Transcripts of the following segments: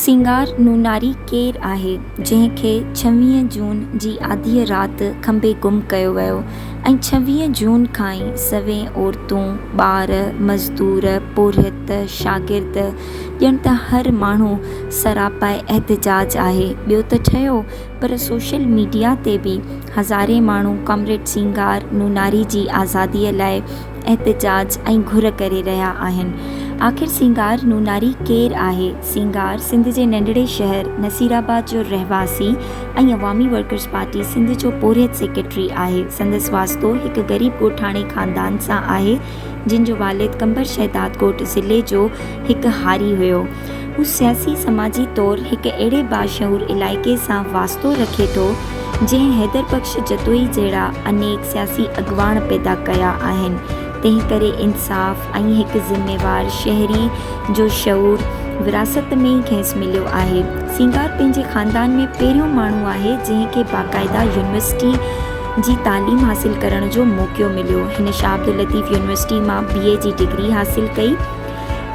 سينگار نوناري ڪير آهي جنهن کي ڇويهه جون جي آڌيء رات کنڀي گم ڪيو ويو ۽ ڇويهه جون کان ئي سوين عورتون، ٻار، مزدور، پورهيت، شاگرد ڄڻ ته هر ماڻهو سراپاء احتجاج آهي ٻيو ته ٺهيو پر سوشل ميڊيا تي به هزارين ماڻهو ڪامريڊ سينگار نوناري جي آزاديء لاء احتجاج ۽ گهر ڪري رهيا آهن. آخر سينگار نوناري ڪير آهي؟ سينگار سنڌ جي ننڍڙي شهر نصير آباد جو رهواسي ۽ عوامي ورڪرز پارٽي سنڌ جو پورهيت سيڪريٽري آهي. سندس واسطو هڪ غريب ڳوٺاڻي خاندان سان آهي، جن جو والد قمبر شهداد ڳوٺ ضلعي جو هڪ هاري هيو. هو سياسي سماجي طور هڪ اهڙي باشعور علائقي سان واسطو رکي ٿو جنهن حيدر بخش جتوئي جهڙا انيڪ سياسي اڳواڻ پيدا ڪيا آهن تنهنڪري انصاف ۽ هڪ ذميوار شهري جو شعور وراثت ۾ ئي کيس مليو آهي سينگار پنهنجي خاندان ۾ پهريون ماڻهو آهي جنهن کي باقاعده يونيورسٽي جي تعليم حاصل ڪرڻ جو موقعو مليو هن شاهه عبداللطيف يونيورسٽي مان بي اي جي ڊگري حاصل ڪئي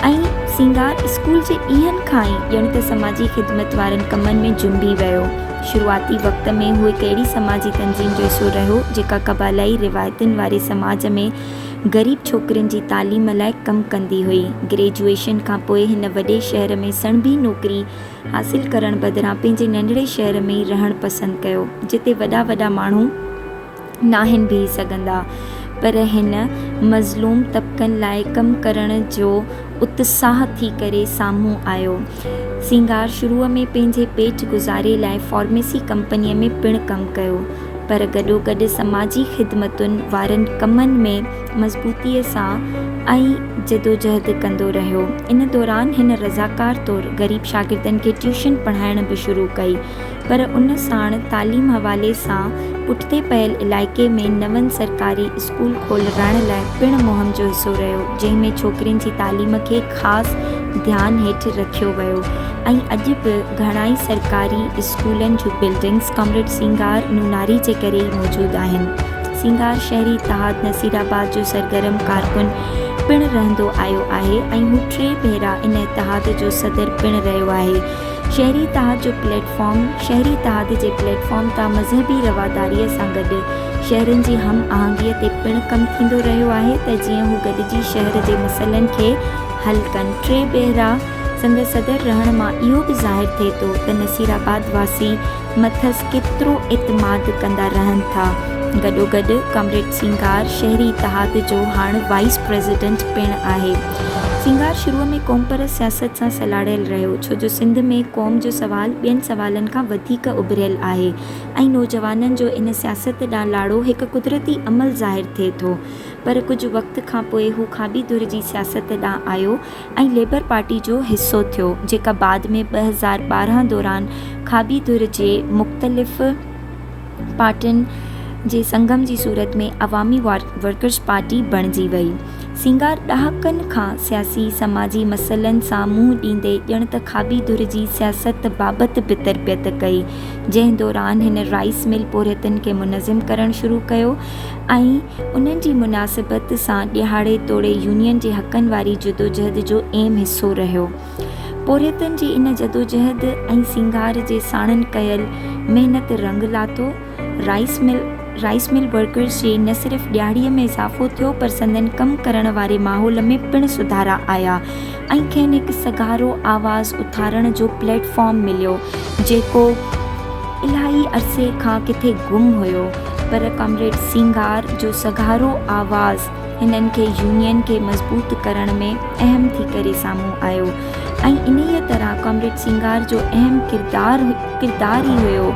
۽ سينگار اسڪول جي ڏينهن کان ئي ڄڻ ته سماجي خدمت وارن ڪمن ۾ جنبي ويو. شروعاتي وقت ۾ هو هڪ اهڙي سماجي تنظيم جو حصو رهيو، جيڪا قبالائي روايتن واري سماج ۾ غريب ڇوڪرين جي تعليم لاء ڪم ڪندي هئي. گريجوئيشن کان پوء هن وڏي شهر ۾ سڻڀي نوڪري حاصل ڪرڻ بدران پنهنجي ننڍڙي شهر ۾ ئي رهڻ پسند ڪيو، جتي وڏا وڏا ماڻهو، ناهن بيهي سگهندا پر هن مظلوم طبقن لاء ڪم ڪرڻ جو اتساهه ٿي ڪري سامهون آيو. سينگار شروع ۾ پنهنجي پيٽ گذاري لاء فارميسي ڪمپنيء ۾ پڻ ڪم ڪيو پر گڏوگڏ سماجي خدمتن وارن ڪمن ۾ مضبوطيء سان ۽ جدوجهد ڪندو رهيو. ان دوران هن رضاڪار طور غريب شاگردن کي ٽيوشن پڙهائڻ به شروع ڪئي. پر ان ساڻ تعليم حوالي سان پٺتي پيل علائقي ۾ نون سرڪاري اسڪول کولرائڻ لاء پڻ مهم جو حصو رهيو جنهن ۾ ڇوڪرين جي تعليم کي خاص ڌيان هيٺ رکيو ويو ۽ اڄ به گهڻائي سرڪاري اسڪولن جون بلڊنگس ڪامريڊ سينگار نوناري جي ڪري ئي موجود آهن سينگار شهري اتحاد نصيرآباد جو سرگرم ڪارڪن پڻ رهندو آيو آهي ۽ هو ٽي ڀيرا ان اتحاد جو صدر پڻ رهيو آهي شهري اتحاد جو پليٽ فارم، شهري اتحاد جي پليٽ فارم تان مذهبي رواداريء سان گڏ شهرين جي هم آهنگيء تي پڻ ڪم ٿيندو رهيو آهي ته جيئن هو گڏجي شهر جي مسئلن کي حل ڪن. ٽي ڀيرا سندس صدر رهڻ مان اهو به ظاهر ٿئي ٿو ته نصيرآباد واسي مٿس ڪيترو اعتماد ڪندا رهن ٿا. گڏوگڏ ڪامريڊ سينگار شهري اتحاد جو هاڻ وائيس پريزيڊنٽ پڻ آهي. سينگار شروع ۾ قومپرست سياست سان سلهاڙيل رهيو، ڇو جو سنڌ ۾ قوم جو سوال ٻين سوالن کان وڌيڪ اڀريل آهي ۽ نوجوانن جو ان سياست ڏانهن لاڙو هڪ قدرتي عمل ظاهر ٿئي ٿو. پر ڪجهه وقت کانپوء هو کاٻي ڌر جي سياست ڏانهن آيو ۽ ليبر پارٽي جو حصو ٿيو، جيڪا بعد ۾ ٻه هزار ٻارهن دوران کاٻي ڌر جي مختلف. پارٽين جي سنگم جي صورت ۾ عوامي ورڪرز پارٽي بڻجي وئي. سينگار ڏهاڪن کان سياسي سماجي مسئلن سان منهن ڏيندي ڄڻ ته کاٻي ڌر جي سياست بابت به تربيت ڪئي، جنهن دوران هن رائيس مل پورهيتن کي منظم ڪرڻ شروع ڪيو ۽ انهن جي مناسبت سان ڏهاڙي توڙي يونين جي حقن واري جدوجهد جو اهم حصو رهيو. پورهيتن جي ان جدوجهد ۽ سينگار جي ساڻن ڪيل محنت رنگ لاٿو. Rice mill, Rice Mill Workers، جي نه صرف ڏيهاڙي ۾ اضافو ٿيو پر سندن ڪم ڪرڻ واري ماحول ۾ پڻ سڌارا آيا ۽ کين هڪ سگهارو آواز اٿارڻ جو پليٽ فارم مليو جيڪو الاهي عرصي کان ڪٿي گم هيو پر ڪامريڊ سينگار جو سگهارو آواز هنن کي يونين کي مضبوط ڪرڻ ۾ اهم ٿي ڪري سامهون آيو ۽ انهيء طرح ڪامريڊ سينگار جو اهم ڪردار ڪردار ئي هيو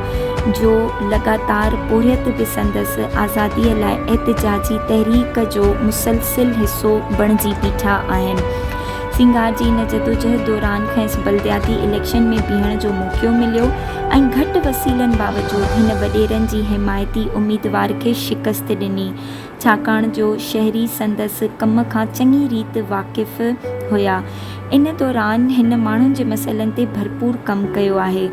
جو لڳاتار پورهيت به سندس آزاديء لاء احتجاجي تحريڪ جو مسلسل حصو بڻجي بيٺا آهن سينگار جي ان جدوجهد دوران کيس بلدياتي اليڪشن ۾ بيهڻ جو موقعو مليو ۽ گهٽ وسيلن باوجود هن وڏيرن جي حمايتي اميدوار کي شڪست ڏني ڇاڪاڻ جو شهري سندس ڪم کان چڱي ريت واقف هيا. ان دوران هن ماڻهن جي مسئلن تي ڀرپور ڪم ڪيو آهي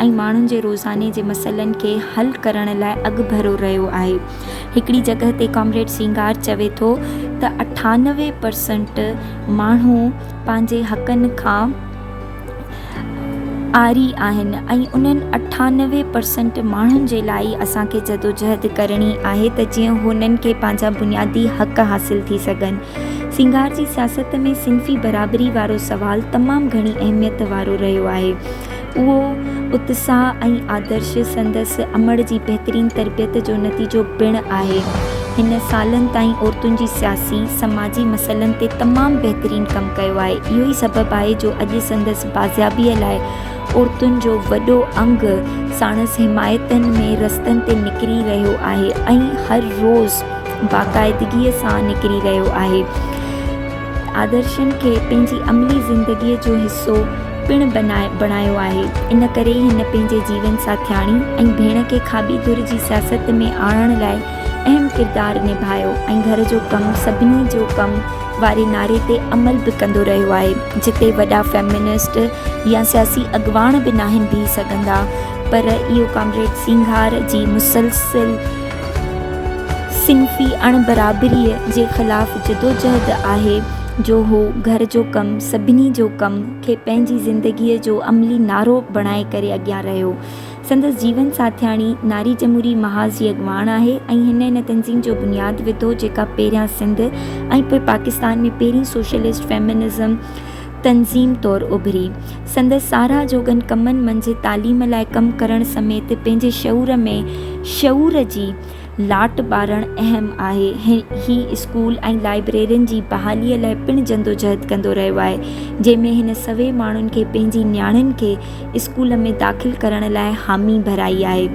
۽ ماڻهن جي روزاني جي مسئلن کي حل ڪرڻ لاء اڳڀرو رهيو آهي. هڪڙي جڳهه تي ڪامريڊ سينگار چوي ٿو ته اٺانوي پرسنٽ ماڻهو پنهنجي حقن کان. آري آهن ۽ انهن اٺانوي پرسينٽ ماڻهن جي لاء ئي اسان کي جدوجهد ڪرڻي آهي ته جيئن هنن کي پنهنجا بنيادي حق حاصل ٿي سگهن. سينگار جي سياست ۾ صنفي برابري وارو سوال تمام گهڻي اهميت وارو رهيو آهي. اهو اتساهه ۽ آدرش سندس امڙ جي بهترين تربيت جو نتيجو پڻ آهي. هن سالن تائين عورتن جي سياسي، سماجي مسئلن تي تمام بهترين ڪم ڪيو آهي. اهو ئي سبب آهي جو اڄ سندس بازيابيء لاء عورتن جو وڏو انگ ساڻس حمايتين ۾ رستن تي نڪري رهيو آهي ۽ هر روز باقاعدگيء سان نڪري رهيو آهي. آدرشن کي پنهنجي عملي زندگيء جو حصو پڻ بڻايو آهي. ان ڪري ئي هن پنهنجي جيون ساٿياڻي ۽ ڀيڻ کي کاٻي ڌر جي سياست ۾ آڻڻ لاء اهم ڪردار نڀايو ۽ گهر جو ڪم سڀني جو ڪم واري نعري تي عمل به ڪندو رهيو آهي جتي وڏا فيمنسٽ يا سياسي اڳواڻ به ناهن بيهي سگهندا پر اهو ڪامريڊ سينگهار جي مسلسل صنفي اڻ برابريء جي خلاف جدوجهد آهي جو هو گهر جو ڪم سڀني جو ڪم کي پنهنجي زندگيء جو عملي نعرو بڻائي ڪري اڳيان رهيو سندس جيون ساٿياڻي ناري جمهوري محاذ جي اڳواڻ آهي ۽ هن ان تنظيم جو بنياد وڌو جيڪا پهريان سنڌ ۽ پوء پاڪستان ۾ پهرين سوشلسٽ فيمنزم تنظيم طور اڀري. سندس ساراهه جوڳن ڪمن منجهه تعليم لاء ڪم ڪرڻ سميت پنهنجي شعور ۾ شعور جي لاٽ ٻارڻ اهم آهي. هي اسڪول ۽ لائبريرين جي بحالي لاء پڻ جدوجهد ڪندو رهيو آهي جنهن ۾ هن سوين ماڻهن کي پنهنجي نياڻين کي اسڪول ۾ داخل ڪرڻ لاء حامي ڀرائي آهي.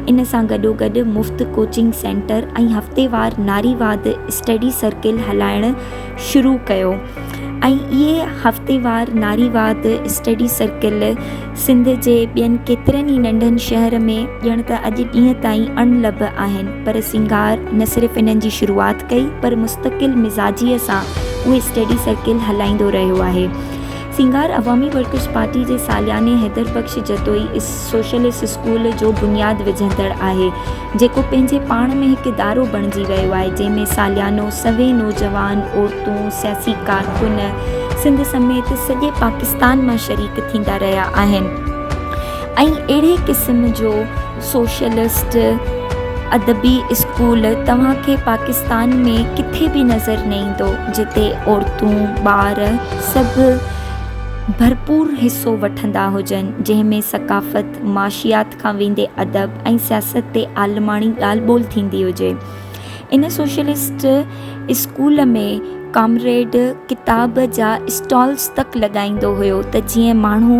ان سان گڏوگڏ مفت ڪوچنگ سينٽر ۽ هفتيوار ناريواد اسٽڊي سرڪل هلائڻ شروع ڪيو ۽ اهي هفتيوار ناريواد اسٽڊي سرڪل سنڌ جي ٻين ڪيترن ئي ننڍن شهر ۾ ڄڻ ته اڄ ڏينهن تائين اڻ لڀ آهن پر سنگار نه صرف انهن جي شروعات ڪئي پر مستقل مزاجيء سان اهي اسٽڊي سرڪل هلائيندو رهيو آهي. سينگار عوامي ورڪرز پارٽي جي سالياني حيدر بخش جتوئي سوشلسٽ اسڪول جو بنياد وجهندڙ آهي، جيڪو پنهنجي پاڻ ۾ هڪ ادارو بڻجي ويو آهي، جنهن ۾ ساليانو سوين نوجوان، عورتون، سياسي ڪارڪن سنڌ سميت سڄي پاڪستان مان شريڪ ٿيندا رهيا آهن ۽ اهڙي قسم جو. سوشلسٽ ادبي اسڪول توهان کي پاڪستان ۾ ڪٿي به نظر نه ايندو جتي عورتون ٻار سڀ ڀرپور حصو وٺندا هجن جنهن ۾ ثقافت معاشيات کان ويندي ادب ۽ سياست تي عالماڻي ڳالهه ٻولهه ٿيندي هجي ان سوشلسٽ اسڪول ۾ ڪامريڊ ڪتاب جا اسٽالز تڪ لڳائيندو هيو ته جيئن ماڻهو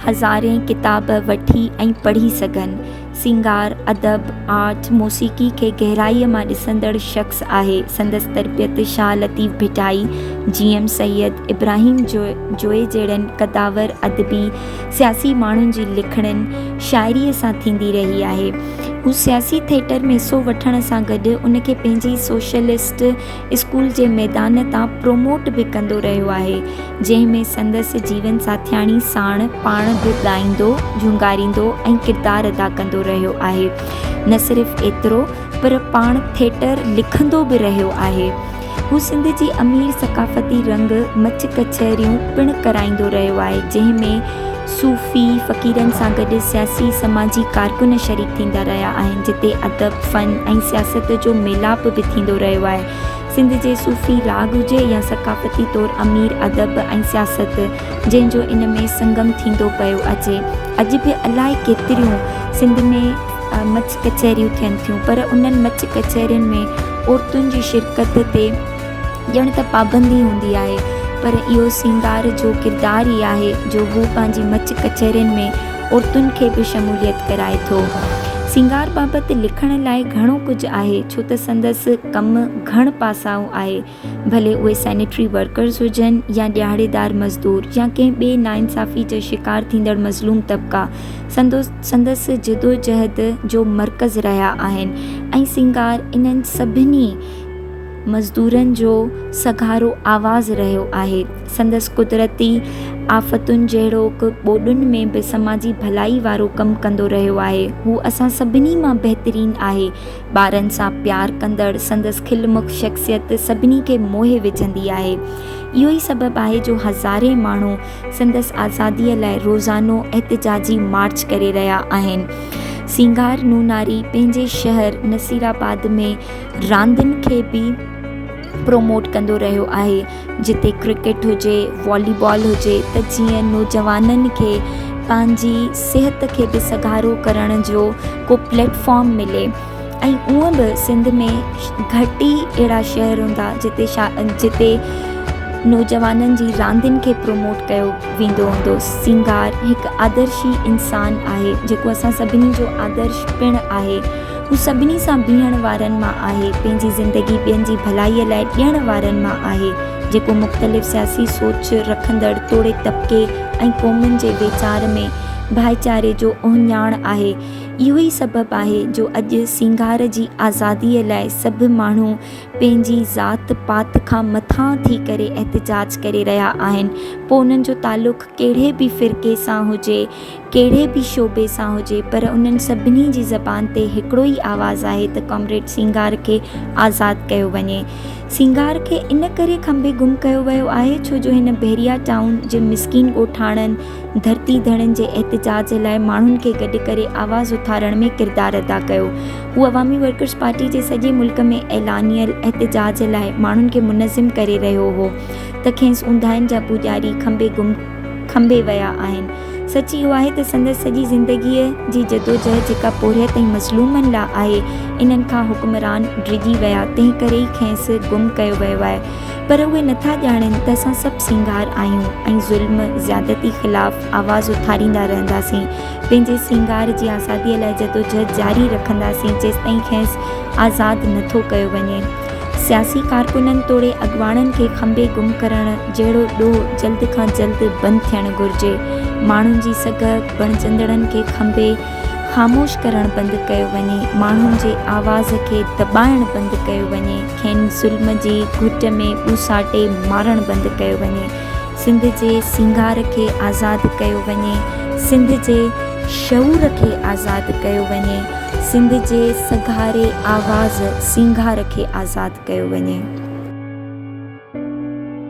هزارين ڪتاب وٺي ۽ پڙهي سگهن. سينگار، ادب، آرٽ، موسيقي کي گهرائيء مان ڏسندڙ شخص آهي. سندس تربيت شاهه لطيف ڀٽائي، جي ايم سيد، ابراهيم جويي جهڙن قدآور ادبي، سياسي ماڻهن جي لکڻين، شاعريء سان ٿيندي رهي آهي. هو سياسي ٿيٽر ۾ حصو وٺڻ سان گڏ ان کي پنهنجي سوشلسٽ اسڪول جي ميدان تان پروموٽ به ڪندو رهيو آهي، جنهن ۾ سندس جيون ساٿياڻي ساڻ پاڻ به ڳائيندو، جهونگاريندو ۽ ڪردار ادا ڪندو رهيو آهي. نه صرف ايترو پر پاڻ ٿيٽر لکندو به رهيو آهي. هو سنڌ جي امير ثقافتي رنگ مچ ڪچهريون پڻ ڪرائيندو رهيو آهي، جنهن ۾ صوفي فقيرن سان گڏ سياسي سماجي ڪارڪن شريڪ ٿيندا رهيا آهن جتي ادب، فن ۽ سياست جو ميلاپ به ٿيندو رهيو آهي. سنڌ جي صوفي راڳ هجي يا ثقافتي طور امير ادب ۽ سياست جنهن جو ان ۾ سنگم ٿيندو پيو اچي. اڄ به الائي ڪيتريون سنڌ ۾ مچ ڪچهريون ٿين ٿيون پر انهن مچ ڪچهرين ۾ عورتن جي شرڪت تي. ڄڻ ته پابندي هوندي آهي، پر اهو سينگار جو ڪردار ئي آهي جو هو پنهنجي مچ ڪچهرين ۾ عورتن کي به شموليت ڪرائي ٿو. سينگار بابت لکڻ لاء گهڻو ڪجهه آهي، ڇو ته سندس ڪم گهڻ پاسائو آهي، ڀلي اهي سينيٽري ورڪرز هجن يا ڏيهاڙيدار مزدور يا ڪنهن ٻي ناانصافي جو شڪار ٿيندڙ مظلوم طبقا سندس جدوجهد جو مرڪز رهيا آهن ۽ سينگار انهن سڀني مزدورن جو سگهارو آواز رهيو آهي. سندس قدرتي آفتن جهڙوڪ ٻوڏن ۾ به سماجي ڀلائي وارو ڪم ڪندو رهيو آهي. هو اسان سڀني مان بهترين آهي. ٻارن سان پيار ڪندڙ سندس کل مک شخصيت سڀني کي موهي وجهندي آهي. اهو ئي سبب آهي جو هزارين ماڻهو سندس آزاديء لاء روزانو احتجاجي مارچ ڪري رهيا آهن. سينگار نوناري پنهنجي شهر نصيرآباد ۾ راندين کي به پروموٽ ڪندو رهيو آهي جتي ڪرڪيٽ هجي والي بال هجي ته جيئن نوجوانن کي پنهنجي صحت کي به سگهارو ڪرڻ جو ڪو پليٽ فارم ملي ۽ اونء به سنڌ ۾ گهٽ ئي اهڙا شهر هوندا جتي جتي نوجوانن جي راندين کي پروموٽ ڪيو ويندو هوندو سينگار هڪ آدرشي انسان آهي جيڪو اسان سڀني جو آدرش پڻ آهي هو سڀني سان بيهڻ وارن مان آهي، پنهنجي زندگي ٻين جي ڀلائيء لاء ڏيڻ وارن مان آهي، جيڪو مختلف سياسي سوچ رکندڙ توڙي طبقي ۽ قومن جي ويچار ۾ ڀائيچاري جو اهڃاڻ آهي. اهو ئي سبب آهي جو اڄ سينگار جي آزاديء لاء سڀ ماڻهو پنهنجي ذات پات کان مٿان ٿي ڪري احتجاج ڪري رهيا آهن، پوء انهن جو تعلق ڪهڙي به فرقي سان هجي، ڪهڙي به شعبي سان هجي پر انهن سڀني جي زبان تي هڪڙو ئي آواز آهي ته ڪامريڊ سينگار کي آزاد ڪيو وڃي. سينگار کي ان ڪري کنڀي گم ڪيو ويو آهي ڇو جو هن بحريا ٽائون جي مسڪين ڳوٺاڻن، ڌرتي ڌڻين جي احتجاج لاء ماڻهن کي گڏ ڪري آواز اٿارڻ ۾ ڪردار ادا ڪيو. هو عوامي ورڪرز پارٽي جي سڄي ملڪ ۾ اعلانيل احتجاج لاء ماڻهن کي منظم ڪري رهيو هو ته کينس اونداهين جا پوڄاري کنڀي گم کنڀي ويا آهن. سچ اهو آهي ته سندس سڄي زندگيء جي جدوجهد جيڪا پورهيت ۽ مظلومن لاء آهي، انهن کان حڪمران ڊڄي ويا، تنهن ڪري ئي کينئس گم ڪيو ويو آهي. پر اهي نٿا ڄاڻين ته اسان سڀ سينگار آهيون ۽ ظلم، زيادتي خلاف آواز اٿاريندا رهنداسين. پنهنجي سينگار جي آزاديء لاء جدوجهد جاري رکنداسين جيستائين کينئس آزاد نٿو ڪيو وڃي. سياسي ڪارڪنن توڙي اڳواڻن کي کنڀي گم ڪرڻ جهڙو ڏوهه جلد کان جلد بند ٿيڻ گهرجي، ماڻهن جي سگهه بڻجندڙن کي کنڀي خاموش ڪرڻ بند ڪيو وڃي، ماڻهن جي آواز کي دٻائڻ بند ڪيو وڃي، کين ظلم جي گهٽ ۾ ٻوساٽي مارڻ بند ڪيو وڃي. سنڌ جي سينگار کي آزاد ڪيو وڃي، سنڌ جي شعور کي آزاد ڪيو وڃي، سنڌ جي سگهاري آواز سينگار کي آزاد ڪيو وڃي.